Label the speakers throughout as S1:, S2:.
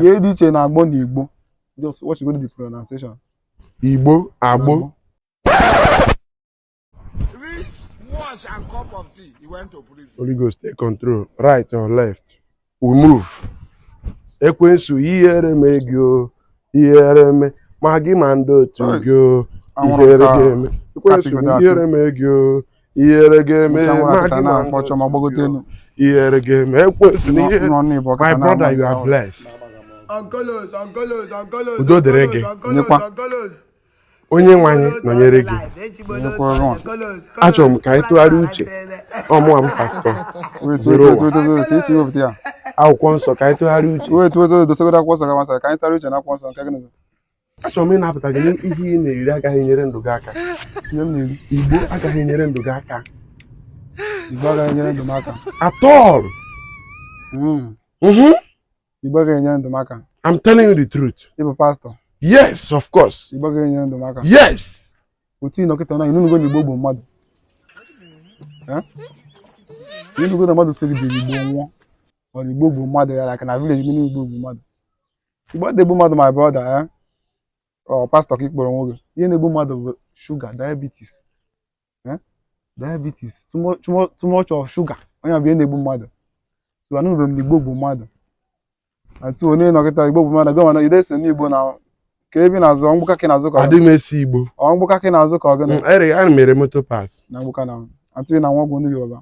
S1: ihe dị iche na agbo na igbo just watch go the pronunciation igbo agbo lunch and cup of tea, he went to prison. Holy Ghost, take control. Right or left? We move. Ekwensu ihere mee gị o, ihere mee ma gị ma ndị otu gị o, ihere ga-eme Ekwensu ihere mee gị o, ihere ga-eme Nwoke nwa ma kịta gị ma na-akpọ ndị chọma gbagote elu ihere ga-eme ekwensu na ihe nọ n'igbo my kịta brother you are blessed Onkelos, Onkelos, Onkelos. Udo dịrị gị. Nyekwa. onye nwe anyị nọnyere gị Nyekwa ọrụ a. achọrọ m ka anyị tụgharịa uche ọ mụwa bụ pastọ wetu Zuru wetu wetu wetu ka esi wepụta ya akwụkwọ nsọ ka anyị tụgharịa uche wetu wetu dosegodi akwụkwọ nsọ ka m sịrị ka anyị tụgharịa uche na akwụkwọ nsọ nke gịnị achọrọ m ịnapụta gị ihe ị na-eri agaghị enyere ndụ gị aka igbo agaghị enyere ndụ gị aka igbo agaghị enyere ndụ m aka at all hmm. mm-hmm. igbo agaghị enyere ndụ m aka I'm telling you the truth ị bụ pastọ yes of course igbo agaghị enyere ndụ m aka yes otu ị nọ kịta a ị nụtụgo na igbo gburu mmadụ ị nụtụgo na mmadụ sere igbo nwụọ or igbo gburu mmadụ ya aka na vileji n'ime igbo gburu mmadụ Igbo ada egbu mmadụ my brother eh? Ọ pastọ ka ị kpọrọ onwe gị. Ihe na-egbu mmadụ bụ shuga, diabetes. Eh? Diabetes, too much, too much, too much of sugar. Ọ ya bụ ihe na-egbu mmadụ. So anụrọ m na Igbo gburu mmadụ. Etu onye nọ kịta Igbo gburu mmadụ. Gọvanọ ị dị ese Igbo na kee ebe ị na-azụ ọ mgbụka ka ị na-azụ ka ọ Adị m ese Igbo. ọ mgbụka ka ị na-azụ ka ọ gịnị Mm, ere- Ana m ere motor parts. na mgbụka na atụghị na-aṅụ ọgwụ ndị Yoruba.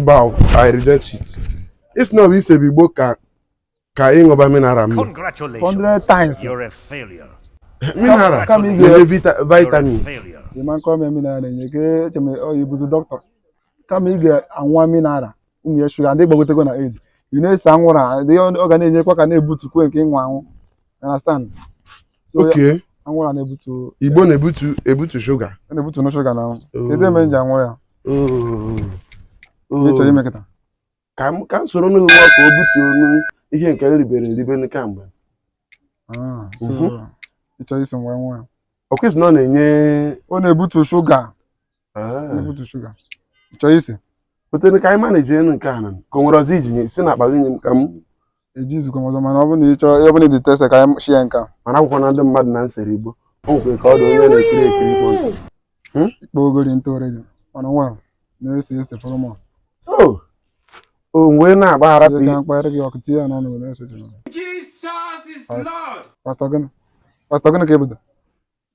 S1: mba I reject it ị sị na ọ bụ isebe igbo ka ka ịṅụba mineral mma mineral na-enye vitamin kama ị ga-aṅụwa mineral ụmụ ya shuga ndị gbagotego na age ị na-ese anwụrụ ọ ga na-enyekwa aka na-ebutukwa nke ị ṅụwa aṅụ understand So, ya- okay anwụrụ a na-ebutu igbo na-ebutu ebutu shuga a na-ebutu no shuga n'ahụ Oh. ihe mere m ji aṅụrụ ya Oh. ihe chọrọ Oh. ime kịta ka m ka m soro ṅụọ ka o butuo nụ ihe nke m ribere eribe nụ kamgbe Ah, so, Mhm. ị chọrọ isewa anwụrụ a ọkwa ị sị na ọ na-enye ọ na-ebutu shuga ibutu ah. shuga chọọ ise wetere ka anyị ma na-eji enu nke a na ka o nwere ọzọ i ji nye si na akpa gị nye m ka m eji izukọ ọzọ mana ọ bụ na ịchọ ọ bụ na ịdị tesa ka anyị see nke a mana akwụkwọ na ndị mmadụ na-ese igbo o nwere ka ọ dị onye na-ekiri ekiri ikpe ozi hmm? ikpe ogori ntụgharị dị mana nwa na-ese ese fọrọ mọ oh! o wee na-agbaghara pii ka m kpanyere gị ọkụ tinye ya n'ọnụ were eso pastọ gịnị ka ebudo